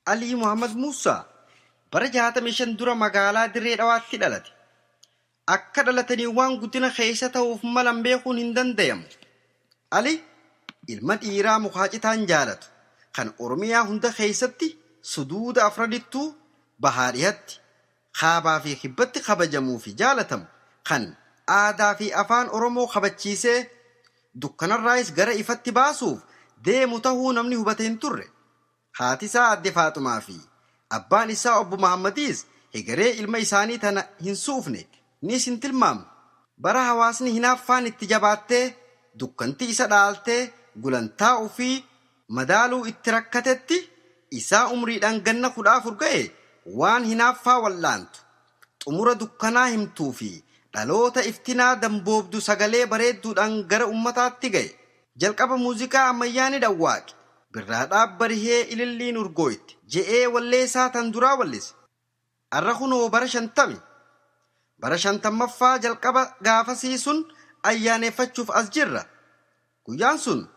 Alii Muhammad Muussaa bara 65 dura magaalaa Dirree Dhawaatti dhalate. Akka dhalatanii waan guddina keessa ta'uuf malan beekuun hin dandayamu. Ali ilma dhiiraa mukaa citaan jaalatu kan Oromiyaa hunda keessatti suduuda afranittuu bahaa dhihatti, kaabaa fi kibbatti kabajamuu fi jaalatamu kan aadaa fi afaan Oromoo kabachiisee dukkanarraayis gara ifatti baasuuf deemu tahuu namni hubate hin turre. Haati isaa Aadde Faaxumaa fi abbaan issaa Obbo Mahaammadiis hegeree ilma isaanii tana hin suufne niis hin tilmaamne. Bara hawaasni hinaaffaan itti jabaattee dukkanti isa dhaaltee gulantaa ufii madaaluu itti rakkatetti, isaa umriidhaan ganna 14 gahe waan hinaaffaa wal'aantu Xumura dukkanaa himtuu fi dhaloota iftinaa damboobdu sagalee bareedduudhaan gara ummataatti gahe. Jalqaba muuziqaa ammayyaa ni dhawwaaqe. Birraa dhaab barihee ililliin urgooyte je'ee wallee isaa tan duraa wallise. Arra kunoo bara shantami. Bara shantammaffaa jalqaba gaafasii sun ayyaaneeffachuuf as jirra. Guyyaan sun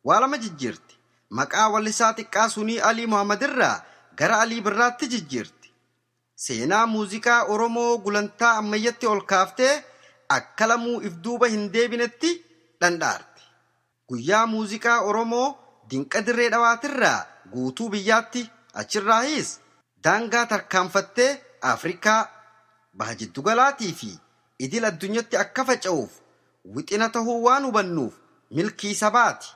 waa lama jijjiirti. Maqaa wallisaa xiqqaa sunii Alii Muhammadirraa gara Alii Birraatti jijjiirti. Seenaa muuziqaa Oromoo gulantaa ammayyatti ol kaaftee akka lamuu if duuba hin deebinetti dhandhaarte. Guyyaa muuziqaa Oromoo dinqa Dirree Dhawaatirraa guutuu biyyaatti, achirraahiis daangaa tarkaanfattee Afrikaa, Baha Jiddugalaatii fi idil addunyatti akka faca'uuf wixina tahuu waan hubannuuf milkii sabaati.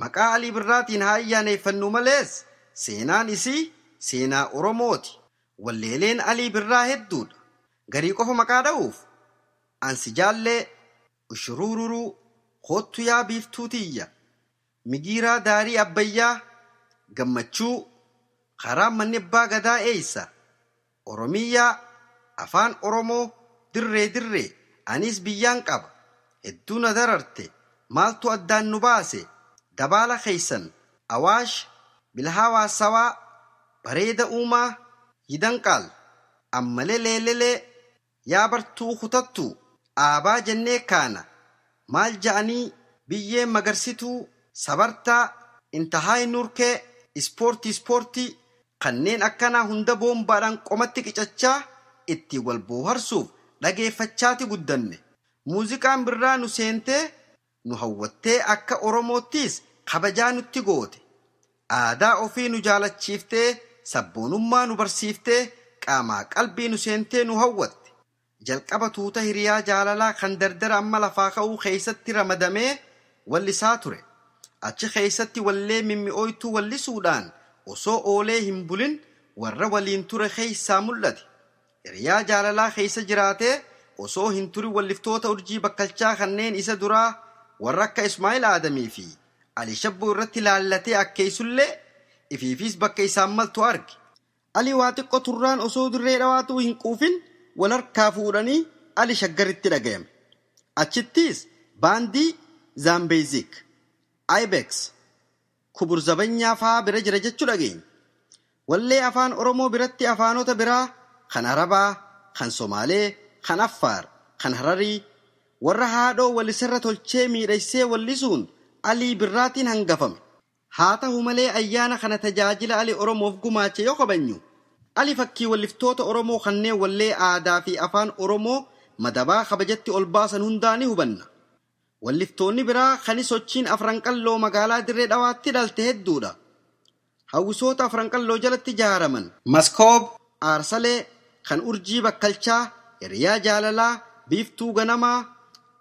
Maqaa Alii Birraatiin haa ayyaaneeffannu malees seenaan isii seenaa Oromooti. Walleeleen Alii Birraa hedduudha. Garii qofa maqaa dha'uuf, An si jaallee, Ushuruururuu, Koottu yaa biiftuu tiyya, Migiiraa daarii Abbayyaa, Gammachuu, Karaan manni Abbaa Gadaa eessa? Oromiyyaa, Afaan Oromoo, Dirree Dirree, Aniis biyyaan qaba, hedduu na dararte, maaltu addaan nu baase, Dabaala keessan, Awaash, Bilhaawaa Sawaa, Bareeda Uumaa, Yidanqaal, Ammale Leelelee, Yaa bartuu kutattuu dhaabaa jennee kaana maal ja'anii biyyeen magarsituu sabartaa intahaay nurkee ispoortii ispoortii kanneen akkanaa hunda boombaadhaan qomatti qicachaa ittiin wal booharsuuf dhageeffachaati guddanne muuziqaan birraa nu seentee nu hawwattee akka Oromoottiis kabajaa nutti goote, aadaa ofii nu jaalachiiftee sabboonummaa nu barsiiftee qaamaa qalbii nu seentee nu hawwatte. Jalqaba tuuta hiriyaa jaalalaa kan dardara amma lafaa ka'uu keessatti ramadamee wallisaa ture. Achi keessatti wallee mimmi'ooytuu wallisuudhaan osoo oolee hin bulin warra waliin ture keessaa mul'ate. Hiriyaa jaalalaa keessa jiraatee osoo hin turin walliftoota urjii bakkalchaa kanneen isa duraa warra akka Ismaa'il Aadamii fi Ali Shabboo irratti laallatee akkeessullee ifiifis bakka isaan maltu arge. Ali waa xiqqo turraan osoo Dirree Dhawaatuu hin quufin wal harkaa fuudhanii Ali Shaggaritti dhagayame. Achittis baandii Zaambeezik, Ibex, Kubur Zabanyaa faa bira jira jechu dhageenye. Wallee Afaan Oromoo biratti afaanota biraa kan Arabaa, kan Somaalee, kan Affaar, kan Hararii, warra haadhoo walisarra tolchee miidhaysee wallisuun Alii Birraatiin hangafame. Haa tahu malee ayyaana kana tajaajila Ali Oromoof gumaache yoo kabajnu, Ali fakkiiwalliftoota Oromoo kanneen wallee aadaa fi Afaan Oromoo madabaa kabajatti olbaasan hundaa ni hubanna. Walliftoonni biraa kani sochiin Afran Qalloo magaalaa Dirree Dhawaatti dhalte hedduudha. Hawwisoota Afran Qalloo jalatti jaaraman. Maskoob, Aarsalee, Kan Urjii Bakkalchaa, Hiriyaa Jaalalaa, Biiftuu Ganamaa,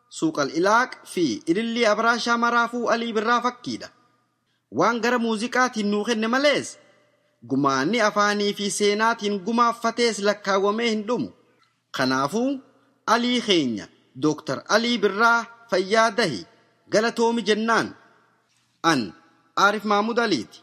Suuqal Ilaaq, fi Ilillii Abaraashaa maraafuu Alii Birraa fakkiidha. Waan gara muuziqaatiin nuu kenne malees, gumaanni afaanii fi seenaatiin gumaaffatees lakkaawwamee hin dhumu. Kanaafuu Alii keenya Dr. Alii Birraa fayyaa dahi galatoomi jennaan. An Aarif Mahmud Aliiti.